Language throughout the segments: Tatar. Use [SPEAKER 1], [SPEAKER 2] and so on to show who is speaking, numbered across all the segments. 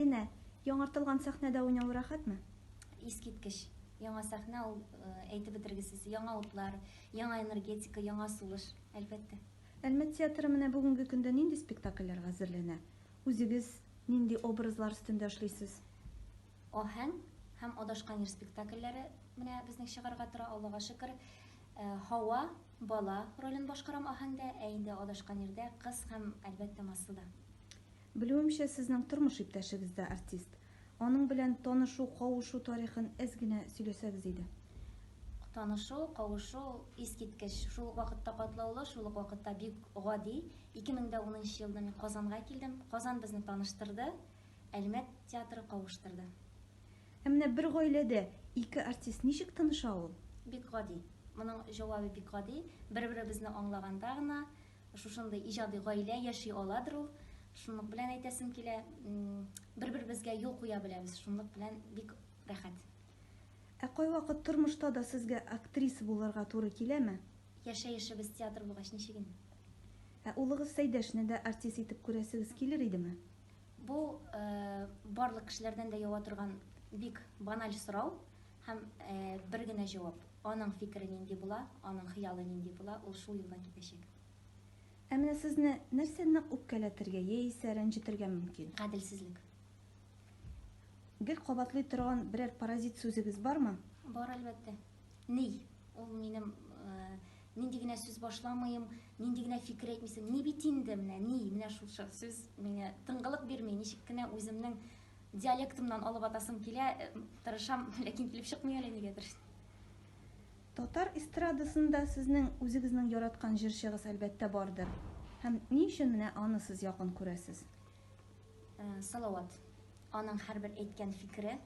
[SPEAKER 1] Линә, яңартылган сәхнәдә уйнау рәхәтме? Искиткеч!
[SPEAKER 2] Яңа сәхнә ул, әйтеп бетергесез, яңа утлар, яңа энергетика, яңа сулыш, әлбәттә. Әлмәт театры
[SPEAKER 1] менә бүгенге көндә нинди спектакльләргә әзерләнә? Үзегез нинди образлар өстендә эшлисез?
[SPEAKER 2] Аһәң һәм Адашкан ир спектакльләре менә безнең чыгарга тора, Аллага шөкер. Һава, бала ролен башкарам Аһәңдә, ә инде Адашкан ирдә, кыз һәм, әлбәттә, Масуда. Белүемчә,
[SPEAKER 1] сезнең тормыш иптәшегез дә артист. Аның белән танышу, кавышу тарихын әз генә сөйләсәгез иде. Танышу,
[SPEAKER 2] кавышу ул искиткеч. Шул ук вакытта катлаулы, шул ук вакытта бик гади. 2010 елда мин Казанга килдем. Казан безне таныштырды, Әлмәт театры кавыштырды. Ә менә
[SPEAKER 1] бер гаиләдә ике артист ничек тыныша ул? Бик гади.
[SPEAKER 2] Моның җавабы бик гади. Бер-беребезне аңлаганда гына Шушындый иҗади гаилә яши аладыр ул. Шунлык белән әйтәсем килә, бер-беребезгә юл куя беләбез. Шунлык белән бик рәхәт. Ә
[SPEAKER 1] кайвакыт тормышта да сезгә актриса булырга туры киләме? Яшәешебез
[SPEAKER 2] театр булгач ничек инде? Ә улыгыз
[SPEAKER 1] Сәйдәшне дә артист итеп күрәсегез килер идеме? Бу
[SPEAKER 2] э, барлык кешеләрдән дә ява торган бик баналь сорау. Һәм бер генә җавап, аның фикере нинди була, аның хыялы нинди була, ул шул юлдан китәчәк. Ә
[SPEAKER 1] менә сезне нәрсә нык үпкәләтергә яисә рәнҗетергә мөмкин? Гаделсезлек. Гел кабатлый торган берәр паразит сүзегез бармы? Бар, әлбәттә.
[SPEAKER 2] Ни? Ул минем нинди генә сүз башламыйм, нинди генә фикер әйтмисең, ни бит инде менә, ни, менә шушы сүз миңа тыңгылык бирми, ничек кенә үземнең Диалектымнан алып атасым килә, тырышам, ләкин килеп чыкмый әле нигәдер.
[SPEAKER 1] Татар эстрадасында сезнең үзегезнең яраткан җырчыгыз, әлбәттә, бардыр. Һәм ни өчен менә аны сез якын күрәсез?
[SPEAKER 2] Салават. Аның һәрбер әйткән фикере,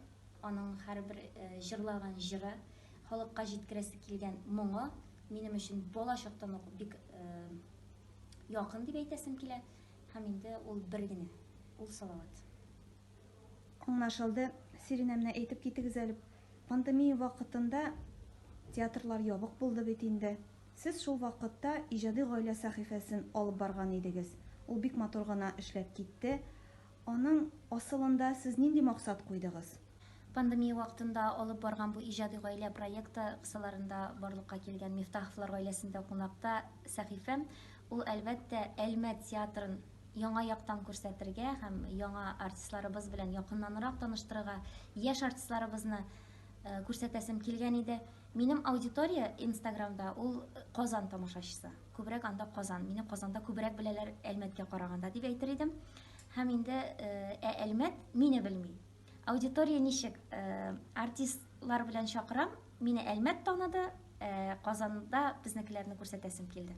[SPEAKER 2] аның һәрбер җырлаган җыры, халыкка җиткерәсе килгән моңы минем өчен балачактан ук бик якын дип әйтәсем килә. Һәм инде ул бер генә, ул Салават. Аңлашылды.
[SPEAKER 1] Сиринә, менә әйтеп китегез әле, пандемия вакытында театрлар ябык булды бит инде. Сез шул вакытта Иҗади гаилә сәхифәсен алып барган идегез. Ул бик матур гына эшләп китте. Аның асылында сез нинди максат куйдыгыз? Пандемия
[SPEAKER 2] вакытында алып барган бу иҗади гаилә проекты кысаларында барлыкка килгән Мифтаховлар гаиләсендә кунакта сәхифә, ул, әлбәттә, Әлмәт театрын яңа яктан күрсәтергә һәм яңа артистларыбыз белән якыннанрак таныштырырга, яшь артистларыбызны күрсәтәсем килгән иде. Минем аудитория Инстаграмда ул Казан тамашачысы. Күбрәк анда Казан. Мине Казанда күбрәк беләләр Әлмәткә караганда, дип әйтер идем. Һәм инде Ә Әлмәт мине белми. Аудитория ничек? Э, артистлар белән чакырам. Мине Әлмәт таныды, э, Казанда безнекеләрне күрсәтәсем килде.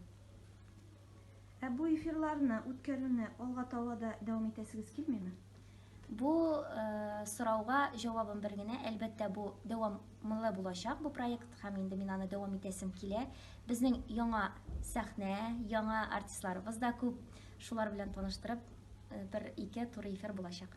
[SPEAKER 1] Ә бу эфирларны үткәрүне алга таба да дәвам итәсегез килмиме? Бу
[SPEAKER 2] э, сорауга җавабым бер генә, әлбәттә бу дәвамлы булачак бу проект һәм инде мин аны дәвам итәсем килә. Безнең яңа сәхнә, яңа артистларыбыз да күп. Шулар белән таныштырып, э, бер ике туры эфир булачак.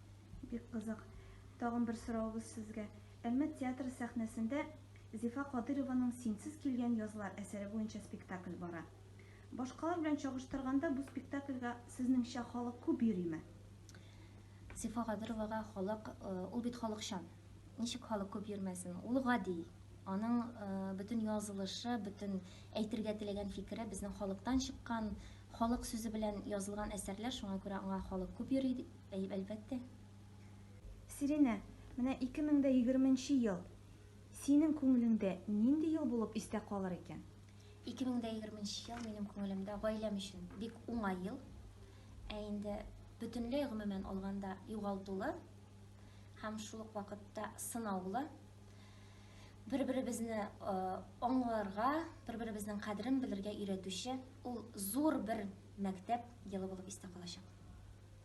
[SPEAKER 1] Бик кызык. Тагын бер соравыбыз сезгә. Әлмәт театры сәхнәсендә Зифа Кадыйрованың Синсез килгән язлар әсәре буенча спектакль бара. Башкалар белән чагыштырганда бу спектакльгә сезнеңчә халык күп йөриме?
[SPEAKER 2] Зифа Кадыровага халык, э, ул бит халыкчан. Ничек халык күп йөрмәсен? Ул гади. Аның э, бөтен язылышы, бөтен әйтергә теләгән фикере безнең халыктан чыккан, халык сүзе белән язылган әсәрләр, шуңа күрә аңа халык күп йөри Әйе, әлбәттә.
[SPEAKER 1] Сиринә, менә 2020 нче ел синең күңелеңдә нинди ел булып истә калыр икән? 2020 нче
[SPEAKER 2] ел минем күңелемдә гаиләм өчен бик уңай ел. Ә инде бөтенләй гомумән алганда югалтулы һәм шул ук вакытта сынаулы бер-беребезне э, аңларга, бер-беребезнең кадерен белергә өйрәтүче ул зур бер мәктәп елы булып истә калачак.